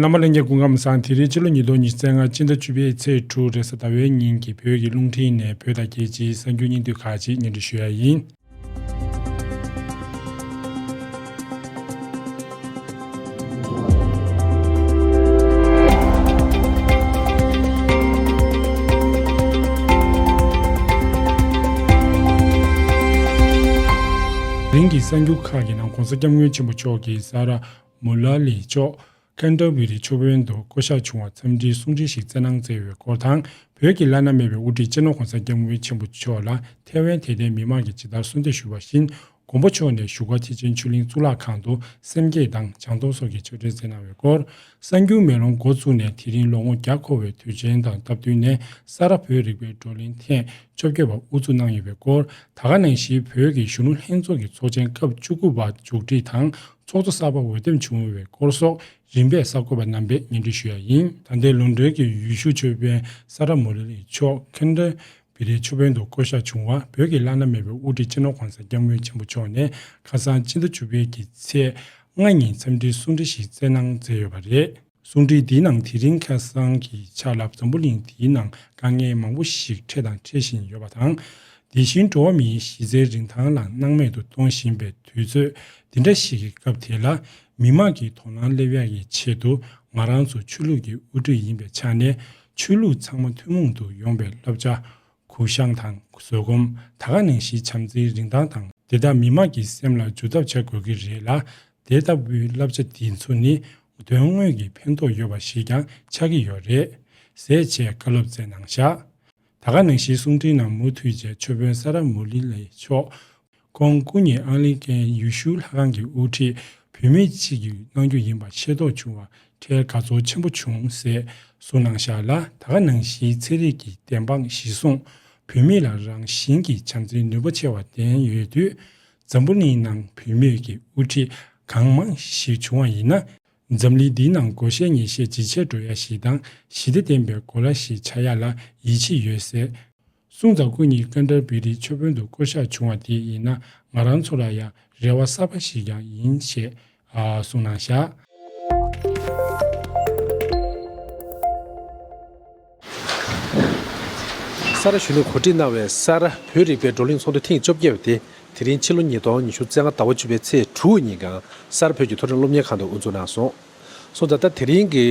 བླ་མ་གླིང་རྒྱལ་སྐུ་ཁམས་བཟང་དེ་རིང་ཕྱི་ལོ་ཉིས་སྟོང་ཉི་ཚེ་ལྔ་སྤྱི་ཟླ་བཅུ་པའི་ཚེས་དྲུག་རེས་གཟའ་ཟླ་བའི་ཉིན་གྱི་བོད་ཀྱི་རླུང་འཕྲིན་ནས་བོད་དང་རྒྱལ་སྤྱིའི་གསར་འགྱུར་སྙིང་བསྡུས་ཁག་ཅིག་སྙན་སྒྲོན་ཞུ་ཡ་ཡིན། རིང་གི་གསར་འགྱུར་ཁག་གི་ནང ྋགོང་ས ྋསྐྱབས་མགོན་ཆེན་པོ་མཆོག་གིས་ས་རཱ་མུ་ལ་ལི་མཆོག་ཁན་ཏར་བི་རི་ཆུ་བོན་དུ་བསྐོ་གཞག་བྱུང་བར་འཚམས་འདྲིའི་གསུང་འཕྲིན་ཞིག་སྩལ་གནང་སྩལ་བའི་སྐོར་དང་བོད་ཀྱི་བླ་ན་མེད་པའི་དབུ་ཁྲིད་སྤྱི་ནོར་གོང་ས་སྐྱབས་མགོན་ཆེན་པོ་མཆོག་ལ་ཐའེ་ཝན་དད་ལྡན་མི་མང་གིས་ཇི་ལྟར་གསོལ་འདེབས་ཞུས་པ་བཞིན་མགོན་པོ་མཆོག་ནས་བཞུགས་སྒར་ཐེག་ཆེན་ཆོས་གླིང་གཙུག་ལག་ཁང་དུ་སེམས་བསྐྱེད་དང་བྱང་སྡོམ་སོགས་ཀྱི་ཆོས་འབྲེལ་སྩལ་གནང་བའི་སྐོར། གསར་འགྱུར་མེ་ལོང་འགོ་བཙུགས་ནས་དེ་རིང་ལོ་ངོ་བརྒྱ་འཁོར་བའི་དུས་ཆེན་དང་སྟབས་བསྟུན་ནས་ས་རཱ་བོད་རིག་པའི་བགྲོ་གླེང་ཐེངས་བཅོ་བརྒྱད་པ་དབུ་འཛུགས་གནང་ཡོད་པའི་སྐོར་ད་ག་ནང་བཞིའི་བོད་ཀྱི་གཞོན་ནུ་ལྷན་ཚོགས་ཀྱི་ཚོགས་ཆེན་སྐབས་བཅུ་དགུ་པ་མཇུག་སྒྲིལ་དང་ཚོགས་གཙོ་གསར་པ་འོས་འདེམས་བྱུང་བའི་སྐོར་སོགས་རིམ་པས་གསར་འགོད་པ་རྣམ་པས་སྙན་སྒྲོན་ཞུས་ཡ་ཡིན། ད་ལྟའི་ལུང་མདོལ་གྱི་ཡུལ་ཤུལ་ཆོས་དཔོན་ས་ར་མུ་ར་ལིའི་མཆོག Kendra Pillay ཆོས་དཔོན་དུ་བསྐོ་གཞག་བྱུང་བ་བོད་ཀྱི་བླ་ན་མེད་པའི་དབུ་ཁྲིད་སྤྱི་ནོར་གོང་ས་སྐྱབས་མགོན་ཆེན་པོ་མཆོག་ནས་ཁ་སང་ཕྱི་ཟླ་བཅུ་པའི་གི་ཚེས་ལྔ་ཉིན་འཚམས་འདྲིའི་གསུང་འཕྲིན་ཞིག་བསྩལ་གནང་མཛད་ཡོད་པ་རེད། གསུང་འཕྲིན་འདིའི་ནང་དེ་རིང་ཁ་སང་གི་ཆ་ལ་འཛམ་བུ་གླིང་འདིའི་ནང་དཀའ་ངལ་མང་པོ་ཞིག་འཕྲད་དང་འཕྲད་བཞིན་ཡོད་པ་དང། དེ་བཞིན་འགྲོ་བ་མིའི་གཞི་རྩའི་རིན་ཐང་ལ་སྣང་མེད་དུ་གཏོང་བཞིན་པའི་དུས་ཚོད་འདི་འདྲ་ཞིག་གི་སྐབས་དེ་ལ། མི་དམངས་ཀྱི་དོ་སྣང་སླེབས་ཡག་གི་ཆེད་དུ་ང་རང་ཚོ་ཆོས་ལུགས་ཀྱི་དབུ་ཁྲིད་ཡིན་པའི་ཆ་ནས་ཆོས་ལུགས་ཚང་མ་ཐུན་མོང་དུ་ཡོང་པའི་བསླབ་བྱ། གུ་ཤང་དང་བཟོད་སྒོམ་ད་ག་ནས་ཤི་འཆམ་ཚེའི་རིན་ཐང་དང་དེ་དག་མི་མང་གི་སེམས་ལ་འཇུ་ཐབས་བྱ་དགོས་ཀྱི་རེད་ལ། དེ་ལྟ་བུའི་བསླབ་བྱ་འདི་ཚོ་ནི་དོན་དངོས་ཀྱི་ཕན་ཐོགས་ཡོད་པ་ཞིག་ཀྱང་ཆགས་ཀྱི་ཡོད་རེད། ཟས་བཅད་བཀའ་སློབ་སྩལ་གནང་བཞག། ད་ག་ནང་ཤི་གསུང་འཕྲིན་ནང་མུ་མཐུད་བཅས་ཆོས་དཔོན་ས་ར་མུ་ལི་ལའི་མཆོག་ཁོང་སྐུ་ཉིད་ཨང་ལིན་ཀན་ཡུས་ཧྲུའུ་ལྷ་ཁང་གི་དབུ་ཁྲིད་བུད་མེད་གཅིག་གིས་གནང་རྒྱུ་ཡིན་པ་ཤེས་རྟོགས་བྱུང་བར་ཁྲལ་དགའ་ཚོར་ཆེན་པོ་བྱུང་ཟེར་གསུངས་གནང་བཞག་ལ་ད་ག་ནང་བཞིའི་ཚན་རིག་གི་བདེན་དཔང་གཞི་བཟུང་བུད་མེད་ལ་རང་བཞིན་གྱི་བྱམས་བརྩེའི་ནུས་པ་ཆེ་བ་ལྡན་ཡོད་དུས། འཛམ་བུ་གླིང་ནང་བུད་མེད་ཀྱི་དབུ་ཁྲིད་གང་མང་ཞིག་བྱུང་བ་ཡིན་ན། འཛམ་གླིང་འདིའི་ནང་བགོ་བཤའི་ངེས་ཤེས་ཇེ་ཆེར་འགྲོ་ཡ་ཞིག་དང་ཞི་བདེ་ལྡན་པའི་གོ་ལ་ཞིག་ཆགས་ཡ་ལ་ཡིད་ཆེས་ཡོད་ཟེར། གསུང་དང་སྐུ་གཉིས་ཀ་འདྲར་བེ་རིའི་ཆོས་དཔོན་དུ་བསྐོ་བཞག་བྱུང་བ་དེ་ཡིན་ན་ང་རང་ཚོ་ལ་ཡང་རེ་བ་གསར་པ་ཞིག་ཀྱང་ཡིན་ཞེས་གསུངས་གནང་བཞག། ས་རཱ་གཞོན་ནུས་གོ་སྒྲིག་གནང་བའི་ས་རཱ་བོད་རིག་པའི་བགྲོ་གླེང་ཚོགས་འདུ་ཐེངས་བཅོ་བརྒྱད་པ་དེ་དེ་རིང་ཕྱི་ལོ་ཉིས་སྟོང་ཉི་ཤུ་རྩེ་ལྔ་ཟླ་བ་བཅུ་པའི་ཚེས་དྲུག་དབུ་ཉིན་གངས་སར་བོད་ཀྱི་མཐོ་རིམ་སློབ་གཉེར་ཁང་དུ་དབུ་འཛུགས་གནང་སོང། སོང་ཙང་ད་དེ་རིང་གི་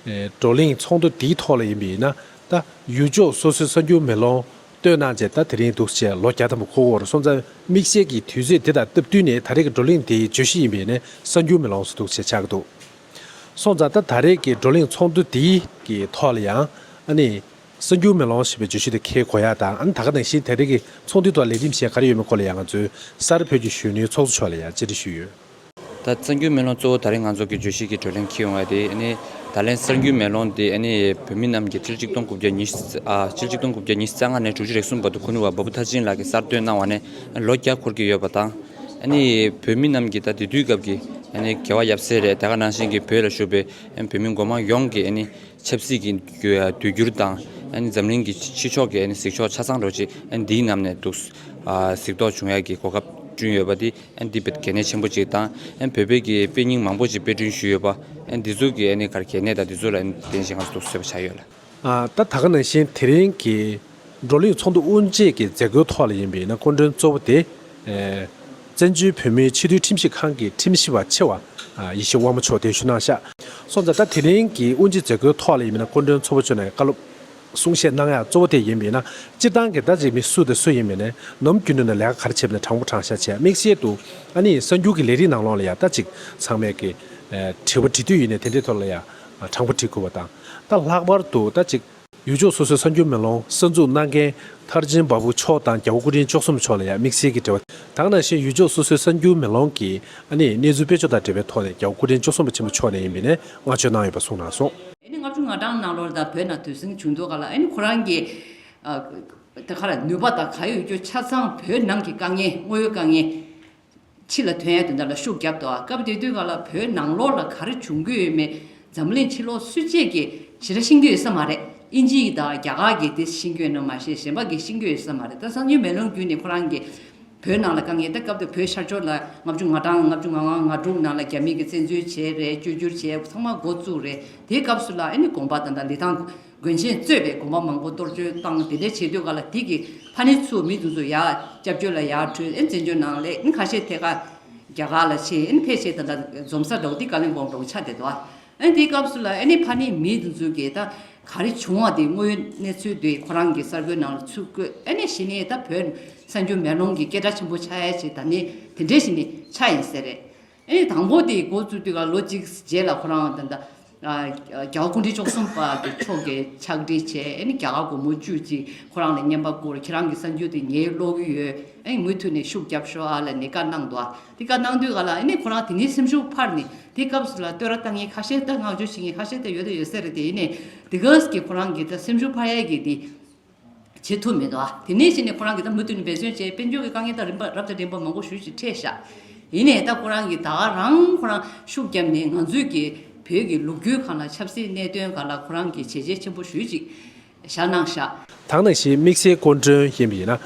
བགྲོ་གླེང་ཚོགས་འདུ་འདིའི་ཐོག་ལ་ཡིན་པས་ན་ད་ཡུལ་ཕྱོགས་སོ་སོའི་གསར་འགྱུར་མེ་ལོང་ལྟོས་ན་བརྗེད་ད་དེ་རིང་འདུག་ཅེས་ལོ་བརྒྱ་དང་པོ་འཁོར་བར་སོང་ཙང་མིག་ཤེལ་གྱི་དུས་ཚོད་དེ་དང་སྟབས་བསྟུན་ནས་ད་རེས་ཀྱི་བགྲོ་གླེང་དེའི་བརྗོད་གཞི་ཡིན་པས་ནི་གསར་འགྱུར་མེ་ལོང་སུ་འདུག་ཅེས་ཆགས་ཀྱི་འདུག་སོང་ཙང་ད་ད་རེས་ཀྱི་བགྲོ་གླེང་ཚོགས་འདུ་དེའི་གི་ཐོག་ལ་ཡང་ཨ་ནི། གསར་འགྱུར་མེ་ལོང་ཞེས་པའི་བརྗོད་གཞི་དེ་ཁས་གོ་ཡག་དང་ཨ་ནི་ད་ག་དང་གཞན་ད་རེས་ཀྱི་ཚོགས་འདུའི་ཐོག་ལས་རིམ་གཞན་ག་རེ་ཡོད་མེད་སྐོར་ལ་ཡང་ང་ཚོའི་སར་བོད་ཀྱི་གཞོན་ནུའི་ཚོགས་གཙོ་མཆོག་ལ་ཡང་བཅར་འདྲི་ཞུས་ཡོད། ད་གསར་འགྱུར་མེ་ལོང་གཙོ་བོ་ད་རིང་ང་ཚོ་གི་བརྗོད་གཞི་གི་བགྲོ་གླེང་འཁེལ་ཡོང་བ་དེ་ནི། ད་ལན་གསར་འགྱུར་མེ་ལོང་དེ་ནི་བོད་མི་རྣམས་ཀྱིས་ཚེས་གཅིག་སྟོང་དགུ་བརྒྱ་ཉི་ཤུ་དགུ་བརྒྱ་ཉི་ཤུ་རྩ་ལྔ་ནས་དྲུག་ཅུ་རེ་གསུམ་བར་དུ་ཁུ་ནུ་བ་འབའ་བུ་མཐར་ཕྱིན་ལགས་ཀྱིས་གསར་བཏོད་གནང་བ་ནས་ལོ་བརྒྱ་འཁོར་གྱི་ཡོད་པ་དང། བོད་མི་རྣམས་ཀྱིས་ད་དེ་དུས་སྐབས་ཀྱི་དགེ་བ་ཡབ་སྲས་རེད་ད་ག་ནང་བཞིན་གྱི་བོད་ལ་བཞུགས་པའི་བོད་མི་མགོ་མང་ཡོངས་ཀྱིས། ཆབ་སྲིད་ཀྱི་དུས་འགྱུར་དང་འཛམ་གླིང་གི་ཕྱི་ཕྱོགས་ཀྱི་གཟིགས་ཕྱོགས་ཆ་ཚང་རོ་གཅིག་འདིའི་གནམ་ནས་འདུག་གཟིགས་རྟོག་འབྱུང་ཡག་གི་གོ་སྐབས་བསྐྲུན་ཡོད་པ་འདི་འདི་གལ་གནད་ཆེན་པོ་གཅིག་དང་བོད་དཔེ་ཀྱི་དཔེ་རྙིང་མང་པོ་ཞིག་དཔེ་སྐྲུན་ཞུས་ཡོད་པ་འདི་ཚོ་གི་གལ་གནད་དང་འདི་ཚོ་ལ་བརྟེན་བཞིན་ང་ཚོ་འདུག་ཟེར་བ་ཆགས་ཡོད་ལ། ད་ད་ག་ནང་བཞིན་དེ་རིང་གི། བགྲོ་གླེང་ཚོགས་འདུ་དབུ་འབྱེད་ཀྱི་མཛད་སྒོའི་ཐོག་ལ་ཡིན་པའི་ན་སྐོར་མགྲོན་གཙོ་བོ་དེ། བཙན་བྱོལ་བོད་མིའི་ཕྱི་དྲིལ་ཁྲིམས་ཞིབ་ཁང་གི་ཁྲིམས་ཞིབ་པ་ཆེ་བ་ཡེ་ཤེས་དབང་མོ་མཆོག་གདན་ཞུ་གནང་ཤག་སོགས་མཛད་གྲྭ་དེ་རིང་གི་དབུ་འབྱེད་མཛད་སྒོའི་ཐོག་ལ་ཡིན་པའི་ན་སྐོར་མགྲོན་ཚོ་བོ་མཆོག་ནས་བཀའ་སློབ་གསུང་བཤད་གནང་ཡག་གཙོ་བོ་དེ་ཡིན་པའི་ན་སྤྱིར་བཏང་གི་ཟླ་རེའི་མི་སུ་དང་སུ་ཡིན་པའི་ན་ནམ་རྒྱུན་དུ་ན་ལས་ཀ་ག་རེ་བྱེད་པའི་ན་དྲང་པོ་དྲང་བཞག་བྱས་དམིགས་བཤད་དུ་ཨ་ནི་གསར་འགྱུར་གྱི་ལས་རིགས་ནང་ལོགས་ལ་ཡང་ལྟ་ཅིག་ཚང་མས་ཀྱི་དྲི་བ་དྲི་དུས་ཡིན་ནས་དེ་འདྲའི་ཐོག་ལ་ཡང་དྲང་པོ་དྲི་དགོས་པ་དང་ལྟ་ལྷག་པར་དུ་ལྟ་ཅིག་ཡུལ་ཕྱོགས་སོ་སོའི་གསར་འགྱུར་མེ་ལོང་གསར་འཛུགས་གནང་མཁན་མཐར་ཆེན་འབའ་བུ་མཆོག་དང་རྒྱ་བོ་སྐུ་ཕྲེང་བཅུ་གསུམ་མཆོག་ལ་ཡང་དམིགས་བསལ་གྱི་འབྲེལ་བ་དང་ནང་བཞིན་ཡུལ་ཕྱོགས་སོ་སོའི་གསར་འགྱུར་མེ་ལོང་གི་ཨ་ནེ་གནས་ཚུལ་དཔེ་ཆོ་དང་འབྲེལ་བའི་ཐོག་ནས་རྒྱ་བོ་སྐུ་ཕྲེང་བཅུ་གསུམ་པ་ཆེན་པོ་མཆོག་ནས་ཡིན་པའི་ནས་བསྔགས་བརྗོད་གནང་ཡོད་པ་གསུངས་གནང་སོང། ཨ་ནེ་ལྔ་བཅུ་ང་གྲངས་གནང་ལོར་ད་བོད་ནང་དུས་ཟིང་བྱུང་འདུག་ག་ལ་ཨ་ནེ་ཁོ་རང་གི་ནུས་པ་དང་ག་ཡོད་ཀྱི་ཆ་ཚང་བོད་ནང་གི་དཀའ་ངལ་དངོས་ཡོད་དཀའ་ངལ་ཕྱི་ལ་དོན་དེ་འདྲ་ལ་ཤུགས་བརྒྱབ་ཏོ་སྐབས་དེ་དུས་ག་ལ་བོད་ནང་ལོགས་ལ་ག་རེ་བྱུང་གི་ཡོད་མེད་འཛམ་གླིང་ཕྱི་ལོགས་སུད་ཅེས་ཀྱི་ཇི་ར་ཤིང་རྒྱུ་ཡོད་ས་མ་རེད་ཨིན་ཇི་ཡི་དང་རྒྱ་གར་གྱི་དེ་ཤིང་རྒྱུ་ཡོད་ནོ་མ་ཤེས་གཞན་པ་གི་ཤིང་རྒྱུ་ཡོད་ས་མ་རེད་ད་གསང་ཉུལ་མེ་ལོང་བརྒྱུད་ནས་ཁོ་རང་གི་བོད་ནང་ལ་དཀའ་ངལ་ད་སྐབས་དེ་བོད་ཤར་ཕྱོགས་ལ་ལྔ་བཅུ་ང་གྲངས་ལྔ་བཅུ་ང་ལྔ་ང་དྲུག་ནང་ལ་རྒྱ་མི་གི་བཙན་འཛུལ་བྱས་རེད་བཅོས་བསྒྱུར་བྱས་ཚང་མ་འགོ་བཙུགས་རེད་དེའི་སྐབས་སུ་ལ་ཨ་ནི་དགོངས་པ་དང་འདྲ་ལི་ཐང་དགོན་ཆེན་གཙོས་པའི་དགོན་པ་མང་པོ་གཏོར་བཅོལ་བཏང་དེ་འདྲའི་བྱེད་དུས་ག་ལ་དེ་གི་ཕ་ནི་ཚུ་མི་འདུག་ཚུ་ཡག་སྐྱབས་བཅོལ་ལ་ཡག་གྲོས་ཨེ་འཛིན་ཇོ་ནང་ལས་ཨིན་ཁ་ཤས་ཐད་ཀ་རྒྱ་གར་ལ་ཆེ་ཨིན་ཕལ་ཆེ་ད་ད་འཛོམ་ས་འདྲ་བོ་དེ་ཀ་ལིང་བོང་འདྲ་བོ་ཆ་དེ་དོ་ཨིན་དེའི་སྐབས་སུ་ལ་ཨེ་ནི་ཕ་ནི་མི་འདུག་ཚུ་གི་ད་ག་རི་བྱུང་བ་དེ་དངོས་ཡོད་གནས་ཚུལ་དེ་ཁོ་རང་གི་གསར་འགོད་ནང་ལ་ཚུ་བཀོད་ཨེ་ནི་ཞི་ནི་ད་བོད་གསར་འགྱུར་མེ་ལོང་གི་སྐད་སྒྲ་ཆེན་པོ་ཆ་ཡ་ཆེ་ད་ནི་དེ་འདྲའི་ཞི་ནི་ཆ་ཡིན་ཟེར་རེད། ཨེ་དང་པོ་དེ་འགོ་བཙུགས་དུས་ལོ་གཅིག་རྗེས་ལ་ཁོ་རང་དང། རྒྱ་བོ་ཀུན་གྲིབ་ཅོག་གསུམ་པ་དེ་མཆོག་གིས་ཕྱག་བྲིས་བྱས་ཨེ་ནི་རྒྱ་གར་སྒོར་མོ་བཅུ་གཅིག་ཁོ་རང་ལ་བསྙེན་པ་བསྐུར་ཁྱེད་རང་གི་གསར་འགྱུར་དེ་ངའི་ཀློག་གི་ཡོད་ཨེ་མུ་མཐུད་ནས་ཤུགས་རྒྱབ་ཤོག་ཨ་ལ་ནས་བཀའ་གནང་འདུག་ཨ་དེ་བཀའ་གནང་དུས་ག་ལ་ཨེ་ནི་ཁོ་རང་དེ་ནས་སེམས་ཤུགས་འཕར་ནས་དེ་སྐབས་སུ་ལ་སྟོད་ར་ལྟ་ངན་ཁ་ཤས་ལྟ་བསྔགས་བརྗོད་བྱེད་ངན་ཁ་ཤས་ལྟ་ཡོད་ལྟ་ཡོད་ཟེར་དེ་ཨེ་ནི་དེ་སྐབས་ཀྱི་ཁོ་རང་གི་ད་སེམས་ཤུགས་འཕར་ཡས་ཀྱི་དེ། བྱེད་ཐུབ་མེད། དེ་ནས་གཞི་ནས་ཁོ་རང་གིས་ད་མུ་མཐུད་ནས་འབད་བརྩོན་བྱས་དཔེ་འཇོག་གི་དཀའ་ངལ་དང་རིམ་པར་རབ་དང་རིམ་པར་མང་པོ་ཞུ་ཞིང་འཕྲད་བཞག་ཡིན་ནས་ད་ཁོ་རང་གིས་ད་རང་ཁོ་རང་ཤུགས་བརྒྱབ་ནས་ང་ཚོའི་གི་བོད་ཀྱི་ལུགས་རྒྱུན་གང་ལ་ཆབ་སྲིད་གནད་དོན་གང་ལ་ཁོ་རང་གིས་བྱས་རྗེས་ཆེན་པོ་ཞུས་ཅིག་བཞག་གནང་བཞག། ཐང་ན་གཞི་དམིགས་བསལ་སྐོར་མགྲོན་ཡིན་པ་ཡིན་ན་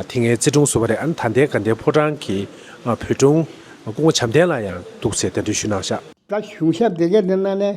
དེ་ངའི་བརྩེ་དྲུང་ཟུར་བ་རེད་ཨ་ན་ད་ལྟའི་དགའ་ལྡན་ཕོ་བྲང་གི་བོད་དྲུང་སྐུ་ངོ་བྱམས་ལྡན་ལ་ཡང་འདུག་ཚེ་གདན་འདྲེན་ཞུ་གནང་བཞག། ད་གཞུང་ཞབས་དེ་གའི་འདི་ན་ནས་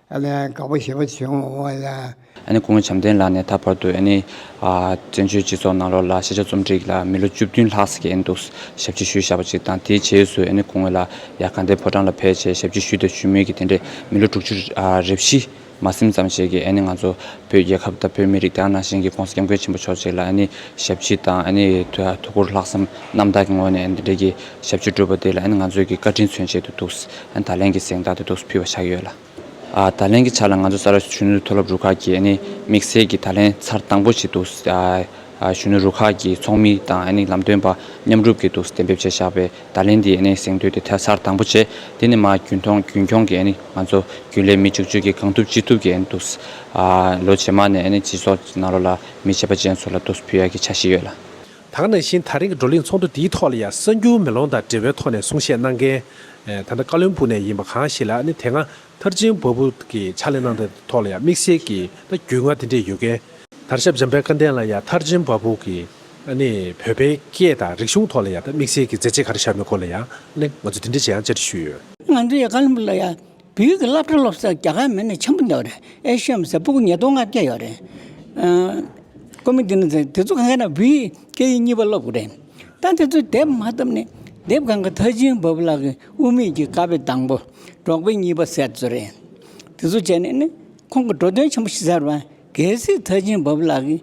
ཨ་ལས་དགའ་བོ་ཞེས་པ་བྱུང་ངོ། ཁོང་བྱམས་ལྡན་ལགས་ནས་ད་བར་དུ་བཙན་བྱོལ་སྤྱི་ཚོགས་ནང་ལོགས་ལ་ཤེས་བྱ་རྩོམ་སྒྲིག་ལ་མི་ལོ་བཅུ་བདུན་ལྷག་ཟེར་གྱི་འདུག་ཞབས་ཕྱི་ཞུས་བཞག་པ་ཅིག་དང་དེའི་རྗེས་སུ་ཁོང་ངོས་ལ་ཡར་གང་དེ་ཕོ་བྲང་ལ་ཕེབས་ཆེད་ཞབས་ཕྱི་ཞུས་དང་ཞུ་མུས་ཀྱི་དེ་འདྲའི་མི་ལོ་དྲུག་ཅུ་རེ་བཞི་མ་སིམ་ཙམ་ཞིག་གི་ང་ཚོ་བོད་རྒྱལ་ཁབ་དང་བོད་མི་རིགས་དང་ནང་བཞིན་གྱི་ཁོང་སྐྱབས་མགོན་ཆེན་པོ་མཆོག་ཅིག་ལ་ཞབས་ཕྱི་དང་ཐུགས་ཁུར་ལྷག་བསམ་རྣམ་དག་གི་ངོས་ནས་འདི་འདྲའི་ཞབས་ཕྱི་བསྒྲུབས་པ་དེ་ལ་ང་ཚོས་ཀྱི་བཀའ་དྲིན་མཚོན་ཆེད་དུ་འདུག་ད་ལན་གྱི་གཟེངས་རྟགས་དེ་རྡོ་སུ་ཕུལ་བ་ཆགས་ཡོད་ལ། ད་ལན་གྱི་ཆ་ལ་ང་ཚོ་གསར་བརྗེ་གཞོན་ནུ་མཐོ་སློབ་རུ་ཁག་གིས་དམིགས་བསལ་གྱིས་ད་ལན་ཚར་དང་པོ་ཆེད་དུ་གཞོན་ནུ་རུ་ཁག་གི་ཚོགས་མི་དང་ལམ་སྟོན་པ་མཉམ་རུབ་ཀྱིས་དུག་སེལ་གཏན་འབེབས་བྱས་བཞག་པས་ད་ལན་འདིའི་གཟེངས་བསྟོད་དེ་ཚར་དང་པོ་བྱས། དེ་ནི་མར་རྒྱུན་འཁྱོངས་ཀྱིས་ང་ཚོ་རྒྱུན་ལས་མི་བཅུ་བཅུ་གིས་གང་ཐུབ་ཅི་ཐུབ་ཀྱིས་དུག་སེལ། ལོ་རྗེས་མ་ནས་སྤྱི་ཚོགས་ནང་ལོ་ལ་མི་བྱེད་པ་ཅན་ཚོ་ལ་རྡོ་སུ་ཕུལ་ཡག་གི་ཆ་ཞིག་ཡོད་ལ། དག་ནང་བཞིན་ད་རིང་གི་བགྲོ་གླེང་ཚོགས་འདུ་འདིའི་ཐོག་ལ་ཡང་གསར་འགྱུར་མེ་ལོང་དང་འབྲེལ་བའི་ཐོག་ནས་གསུང་བཤད་གནང་མཁན་ད་ལྟ་ཀ་ལོན་པུ་ནས་ཡིན་པ་གང་ཞིག་ལ་ནི་དེ་སྔ་མཐར་ཆེན་པོ་པུ་གི་ཕྱག་ལས་གནང་སྟངས་ཐོག་ལ་ཡང་དམིགས་བསལ་གྱི་ད་རྒྱུས་མངའ་དེ་འདྲས་ཡོད་མཁན། དར་ཞབས་འཇམ་དཔལ་བཀའ་བསྟན་ལ་ཡང་མཐར་ཆེན་པོ་པུ་གི་ནི་བོད་པའི་སྐད་དང་རིག་གཞུང་ཐོག་ལ་ཡང་ད་དམིགས་བསལ་གྱི་མཛད་རྗེས་ག་རེ་བཞག་མེད་སྐོར་ལ་ཡང་ནི་ང་ཚོས་དེ་འདྲས་ཅི་ཡང་བཅར་འདྲི་ཞུས་ཡོད། ང་ཚོས་ཀ་ལོན་པུ་ལ་ཡང། བོད་ཡིག་གི་སློབ་གྲྭ་སློབ་ས་རྒྱ་གར་མི་ནི་ཆེན་པོ་འདུག་རེད་ཨེ་ཤི་ཡའི་མི་སེར་སྤུ་གུ་ཉིས་སྟོང་ལྔ་བརྒྱ་ཡོད་རེད། ཀོ་མི་དེ་ནི་དེ་ཚོ་གང་གཱ་ན་བོད་ཡིག་སྐད་ཡིག་གཉིས་པ་སློབ་དགོས་རེད། ད་དེ་ཚོ་དེབ་མ་བཏབ་ནས་དེབ་གང་གི་མཐའ་བྱིན་འབབ་ལག་གི་དབུ་མེད་ཀྱི་ཀ་བའི་དང་པོ་འབྲོག་པའི་གཉིས་པ་ཟེར་ཚོད་རེད། དེ་ཚོ་བྱས་ནས་ནི་ཁོང་གི་འགྲོ་དོན་ཆེན་པོ་ཞིག་ཟེར་བ་གལ་སྲིད་མཐའ་བྱིན་འབབ་ལག་གི་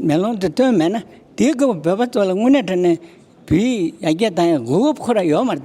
མེ་ལོང་དེ་བཏོན་མེད་ན་དེའི་སྐབས་བོད་པ་ཚོ་ལ་དངོས་གནས་དྲན་ནས་བོད་ཡིག་ཡར་རྒྱས་བཏང་ཡང་དགོས་དབུབ་ཁོ་ར་ཡོད་མ་རེད།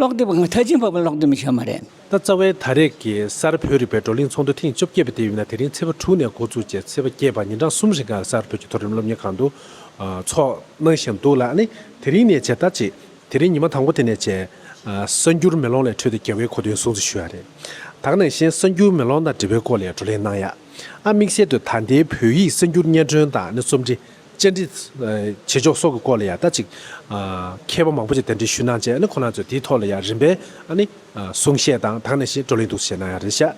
ཀློག་དེབ་གང་ཐ་ཆེན་ཕབ་པར་ཀློག་དེབ་མི་ཆོག་མ་རེད། ད་རྩ་བའི་ད་རེས་ཀྱི་གསར་བོད་རིག་པའི་བགྲོ་གླེང་ཚོགས་འདུ་ཐེངས་བཅོ་བརྒྱད་པ་དེ་ཡོད་ན་དེ་རིང་ཚེས་པ་དྲུག་ནས་འགོ་ཚུགས་རྗེས་ཚེས་པ་བརྒྱད་བར་ཉིན་གྲངས་གསུམ་རིང་ཁང་གསར་བོད་ཀྱི་མཐོ་རིམ་སློབ་གཉེར་ཁང་དུ་ཚོགས་གནང་བཞིན་འདུག་ལ། དེ་རིང་ནས་བྱས་ད་ཅིག་དེ་རིང་ཉི་མ་དང་པོ་དེ་ནས་བྱས། གསར་འགྱུར་མེ་ལོང་ལས་འཕྲོས་ཏེ་རྒྱལ་བའི་གོ་དོན་སྲུང་བརྩི་ཞུ་ཡ་རེད། དག་ནང་བཞིན་གསར་འགྱུར་མེ་ལོང་དང་འབྲེལ་བའི་སྐོར་ལས་བགྲོ་གླེང་གནང་ཡ། དམིགས་བསལ་དུ་ད་ལྟའི་བོད་ཡིག་གསར་འགྱུར་སྙན་སྒྲོན་དང་ནི་རྩོམ་འབྲི། བཅར་འདྲི། བྱེད་ཕྱོགས་སོགས་ཀྱི་སྐོར་ལ་ཡང་ད་ཅིག་མཁས་པ་མང་པོ་ཅིག་གདན་འདྲེན་ཞུས་གནང་རྗེས་ཁོ་ན་ཚོས་དེའི་ཐོག་ལ་ཡང་རིམ་པས་གསུང་བཤད་དང་དང་ནས་བགྲོ་གླེང་གཏུག་བཤད་གནང་ཡང་རེད་བྱས།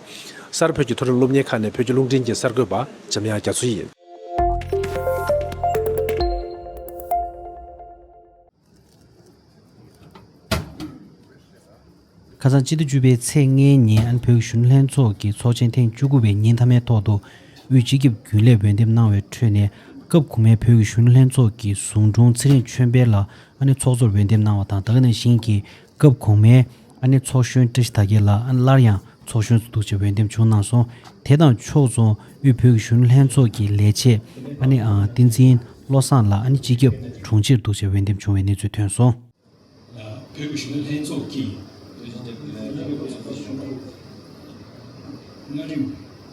གསར་བོད་ཀྱི་མཐོ་རིམ་སློབ་གཉེར་ཁག་ནས་བོད་ཀྱི་རླུང་འཕྲིན་གྱི་གསར་འགོད་པ་འཇམ་དབྱངས་རྒྱ་མཚོ་ཡིས། ཁ་སང་ཕྱི་ཟླ་བཅུ་པའི་ཚེས་ལྔའི་ཉིན་ཨན་བོད་གཞུང་ལྷན་ཚོགས་ཀྱི་ཚོགས་ཆེན་ཐེངས་བཅུ་དགུ་པའི་ཉིན་མཐའ་མའི་ཐོག་ཏུ་དབུས་སྤྱི་ཁྱབ་རྒྱུན་ལས་འོས་འདེམས་གནང་བའི་ཁྲོད་ནས་སྐབས་གོང་མའི་བོད་ཀྱི་གཞུང་ལྷན་ཚོགས་ཀྱི་ཟུང་དྲུང་ཚེ་རིང་ཆོས་འཕེལ་ལགས་ཨ་ནི་ཚོགས་གཙོར་འོས་འདེམས་གནང་བ་དང་ད་ག་ནང་བཞིན་གྱི་སྐབས་གོང་མའི་ཨ་ནེ་ཚོགས་གཞོན་བཀྲ་ཤིས་དར་རྒྱས་ལགས་སླར་ཡང་ཚོགས་གཞོན་དུ་འདུག་ཅེས་འོས་འདེམས་བྱུང་གནང་སོང། དེ་དང་ཕྱོགས་མཚུངས་དབུས་བོད་ཀྱི་གཞོན་ནུ་ལྷན་ཚོགས་ཀྱི་ལས་བྱེད་ཨ་ནེ་བསྟན་འཛིན་བློ་བཟང་ལགས་ཨ་ནེ་སྤྱི་ཁྱབ་དྲུང་ཆེར་འདུག་ཅེས་འོས་འདེམས་བྱུང་བའི་གནས་ཚུལ་ཐོན་སོང། བོད་ཀྱི་གཞོན་ནུ་ལྷན་ཚོགས་ཀྱི།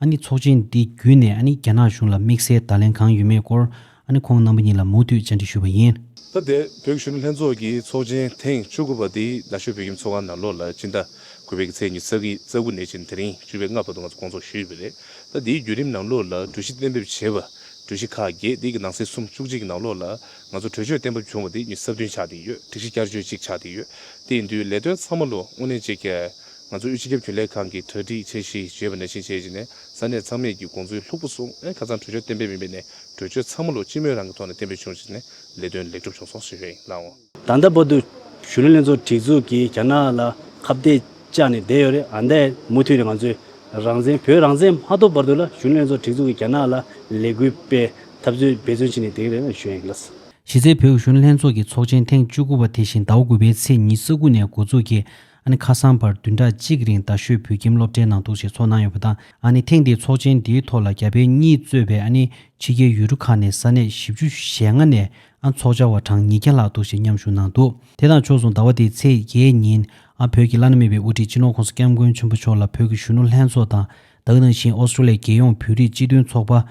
ཨ་ནི་ཚོགས་ཆེན་འདི་བརྒྱུད་ནས་ཨ་ནི་རྒྱ་ནག་གཞུང་ལ་དམིགས་བསལ་བརྡ་ལན་གང་ཡོད་མེད་སྐོར་ཨ་ནི་ཁོང་རྣམ་པ་གཉིས་ལ་མུ་མཐུད་བཅར་འདྲི་ཞུས་པ་ཡིན། ད་ལྟའི་བོད་གཞུང་ལྷན་ཚོགས་ཀྱི་ཚོགས་ཆེན་ཐེངས་བཅུ་དགུ་པ་འདི་རྡ་ཤོད་བོད་ཁྱིམ་ཚོགས་ཁང་ནང་ལོ་ལ་སྤྱི་ཟླ་དགུ་པའི་ཚེས་ཉི་ཚགི་རྩ་དགུ་ནས་ཕྱིན་དེ་རིང་བཅུ་པའི་ལྔ་བར་དུ་ང་ཚོ་སྐོང་ཚོགས་ཞུས་ཡོད་པ་རེད། ད་འདིའི་བརྒྱུད་རིམ་ནང་ལོ་ལ་གྲོས་གཞི་གཏན་འབེབས་བྱས་པ་གྲོས་གཞི་ཁག་བརྒྱད་དེ་གི་ནང་ཚེས་གསུམ་བཅུ་གཅིག་ནང་ལོ་ལ་ང་ཚོ་གྲོས་ཆོད་གཏན་འབེབས་བྱུང་བ་དེ་གཉིས་གསར་བཏོན་ཆགས་བསྡད་ཡོད་སྒྲིག་གཞི་བསྐྱར་བཅོས་གཅིག་ཆགས་བསྡད་ཡོད་དེ་ཡིན་དུས་ལས་དོན་ཚང་མ་ལོ་སྔོན་ནས་བྱེད་ཁས་ང་ཚོ་དབུས་སྤྱི་ཁྱབ་རྒྱུན་ལས་ཁང་གིས་གྲ་སྒྲིག་བྱས་ཤིང་བྱེད་པ་ནས་ཤེས་བྱས་བྱས་ནས་ས་གནས་ཚང་མས་ཀྱི་དགོངས་ཚུལ་ལྷུག་པོ་སོང་ཁ་ཚང་གྲོས་ཆོད་གཏན་འབེབས་མིན་པའི་ནས་གྲོས་ཆོད་ཚང་མ་ལོ་གཅིག་མོས་རང་གི་ཐོག་ནས་གཏན་འབེབས་བྱུང་བྱས་ནས་ལས་དོན་ལེགས་གྲུབ་བྱུང་སོང་ཞེས་བཤད་གནང། ད་ལྟ་བོད་དུ་གཞོན་ནུ་ལྷན་ཚོགས་སྒྲིག་འཛུགས་ཀྱིས་རྒྱ་ནག་ལ་ཁ་བརྡས་བཅག་ནས་བསྡད་ཡོད་རེད་ཨ་མདའི་མུ་མཐུད་ནས་ང་ཚོས་རང་བཙན་བོད་རང་བཙན་མ་ཐོབ་བར་དུ་ལ་གཞོན་ནུ་ལྷན་ཚོགས་སྒྲིག་འཛུགས་ཀྱིས་རྒྱ་ནག་ལ་ལས་འགུལ་སྤེལ་ཐབས་ཚུལ་འབད་བརྩོན་བྱས་ནས་བསྡད་ཡོད་རེད་ཞེས་བཤད། གཞི་རྩའི་བོད་གཞོན་ལྷན་ཚོགས་ཀྱི་ཚོགས་ཆེན་ཐེངས་བཅུ་དགུ་བ་དེ་བཞིན་ཟླ་བ་དགུ་པའི་ཚེས་ཉིན་ས་ཁུལ་ནས་འགོ་ཚུགས་ཀྱིས། ཨ་ནི་ཁ་སང་བར་བདུན་ཕྲག་གཅིག་གི་རིང་རྡ་ཤོད་བོད་ཁྱིམ་སློབ་གྲྭའི་ནང་ཐུག་ཆེད་ཚོགས་གནང་ཡོད་པ་དང་ཨ་ནི་ཐེངས་འདིའི་ཚོགས་ཆེན་འདིའི་ཐོག་ལ་རྒྱ་བལ་གཉིས་གཙོས་པའི་ཨ་ནི་ཕྱི་རྒྱལ་ཡུལ་གྲུ་ཁག་ནས་ས་གནས་བཞི་བཅུ་ཞེ་ལྔ་ནས་ཨ་ཚོགས་བཅར་བ་གྲངས་ཉིས་བརྒྱ་ལྷག་འདུ་ཞེས་མཉམ་ཞུགས་གནང་འདུག་དེ་དང་ཕྱོགས་མཚུངས་ཟླ་བ་འདིའི་ཚེས་བརྒྱད་ཉིན་ཨ་བོད་ཀྱི་བླ་ན་མེད་པའི་དབུ་ཁྲིད་སྤྱི་ནོར་ཁོང་སྐྱབས་མགོན་ཆེན་པོ་མཆོག་ལ་བོད་ཀྱི་གཞོན་ནུ་ལྷན་ཚོགས་དང་དྭགས་ནང་བཞིན་ཨོ་སྟྲོ་ལི་ཡ་རྒྱལ་ཡོངས་བོད་རིགས་སྤྱི་མཐུན་ཚོགས་པ།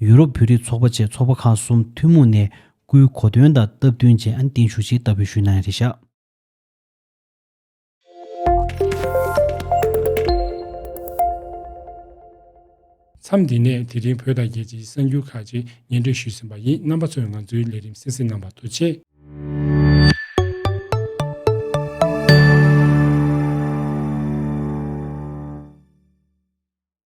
ཡུ་རོབ་བོད་རིགས་ཚོགས་པ་བཅས་ཚོགས་པ་ཁག་གསུམ་ཐུན་མོང་ནས་སྐུའི་གོ་སྟོན་དང་སྟབས་བསྟུན་ཅན་ཨ་ནི་བརྟན་བཞུགས་ཆེད་ལྟ་བུའི་ཞུས་གནང་ཡང་རེད་ཤག། མཚམས་འདི་ནས་དེ་རིང་བོད་དང་རྒྱལ་སྤྱིའི་གསར་འགྱུར་ཁག་ཅིག་ཉན་སྤྲོད་ཞུས་ཟིན་པ་ཡིན་རྣམ་པ་ཚོས་ང་ཚོའི་ལས་རིམ་གསན་གཟིགས་གནང་བར་ཐུགས་ཆེ།